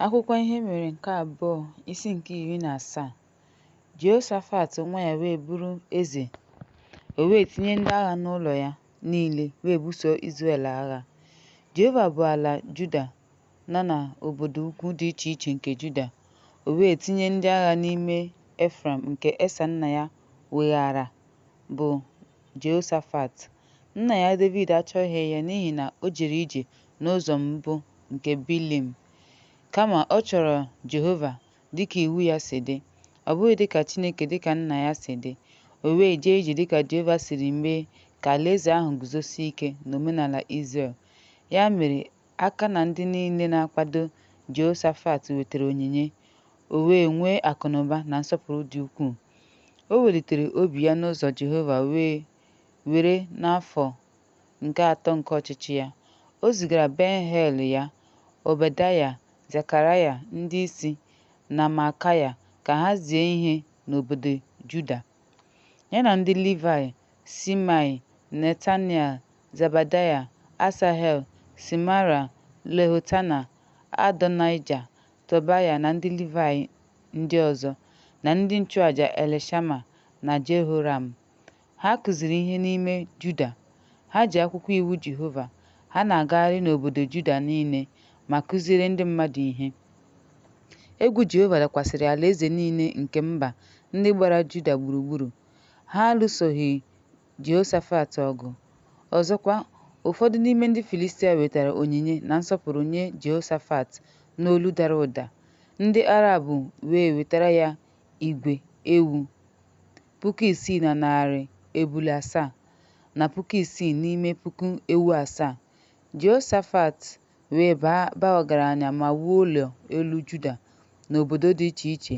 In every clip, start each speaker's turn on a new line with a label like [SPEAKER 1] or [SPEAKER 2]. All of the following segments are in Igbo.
[SPEAKER 1] Akwụkwọ Ihe Mere nke Abụọ isi nke iri na asaa Jehoshafat nwa ya wee bụrụ eze o wee tinye ndị agha n'ụlọ ya niile wee buso Izrel agha Jehova bụ ala Juda nọ na obodo ukwu dị iche iche nke Juda o wee tinye ndị agha n'ime Efraim nke Esa nna ya weghara bụ Jehoshafat nna ya David achọghị ya n'ihi na o jere ije n'ụzọ mbụ nke Bilim. Kama, ọ chọrọ Jehova dị ka iwu ya si dị, ọ bụghị dị ka Chineke dị ka nna ya si dị. O wee jee ije dị ka Jehova siri mee ka alaeze ahụ guzosie ike n'omenala Izrel. Ya mere, aka na ndị niile na-akwado Jehoshafat wetara onyinye, o wee nwee akụnụba na nsọpụrụ dị ukwuu. O welitere obi ya n'ụzọ Jehova wee were n'afọ nke atọ nke ọchịchị ya, o zigara Ben-Heil ya, Obedaya, Zekaraya, ndị isi, na Maakaya ka ha zie ihe n'obodo Juda. Ya na ndị Livaị, Simaị, Netanel, Zebadaya, Asahel, Simara, Lehotana, Adonaịja, Tobaya na ndị Livaị ndị ọzọ, na ndị nchụaja Elishama na Jehoram, Ha kụziri ihe n'ime Juda. Ha ji akwụkwọ iwu Jehova. Ha na-agagharị n'obodo Juda niile ma kụziere ndị mmadụ ihe. Egwu Jehova dakwasịrị alaeze niile nke mba ndị gbara Juda gburugburu. Ha alụsoghị Jehoshafat ọgụ. Ọzọkwa, ụfọdụ n'ime ndị Filistia wetara onyinye na nsọpụrụ nye Jehoshafat n'olu dara ụda, ndị Arab wee wetara ya igwe ewu puku isii na narị ebule asaa, na puku isii n'ime puku ewu asaa. Jehoshafat wee baa ba ọgaranya ma wuo ụlọ elu Juda n'obodo dị iche iche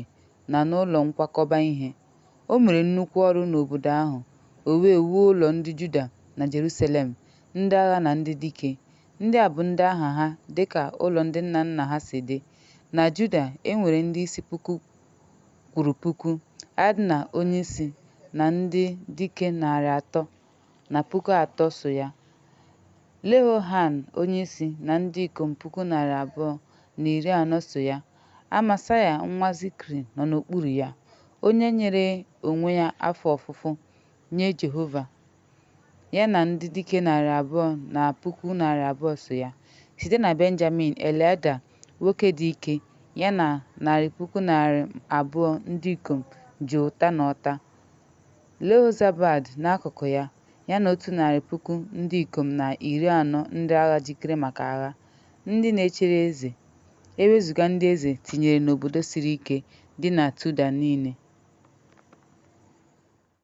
[SPEAKER 1] na n'ụlọ nkwakọba ihe. O mere nnukwu ọrụ n'obodo ahụ, o wee wuo ụlọ ndị Juda na Jerusalem, ndị agha na ndị dike. Ndị a bụ ndị aha ha dị ka ụlọ ndị nna nna ha si dị. Na Juda, e nwere ndị isi puku kwuru puku, Adna onyeisi na ndị dike narị atọ na puku atọ so ya, Lehohan onyeisi na ndị ikom puku narị abụọ na iri anọ so ya, Amasaya nwa Zikri nọ n'okpuru ya, onye nyere onwe ya afọ ofufo nye Jehova. Ya na ndị dike narị abụọ na puku narị abụọ so ya. Site na Benjamin, Eliada, nwoke dị ike, ya na narị puku narị abụọ ndị ikom ji ụta na ọta. Jehozabad n'akụkụ ya, ya na otu narị puku ndị ikom na iri anọ ndị agha jikere maka agha, ndị na-echere eze, ewezuga ndị eze tinyere n'obodo siri ike dị na Juda niile.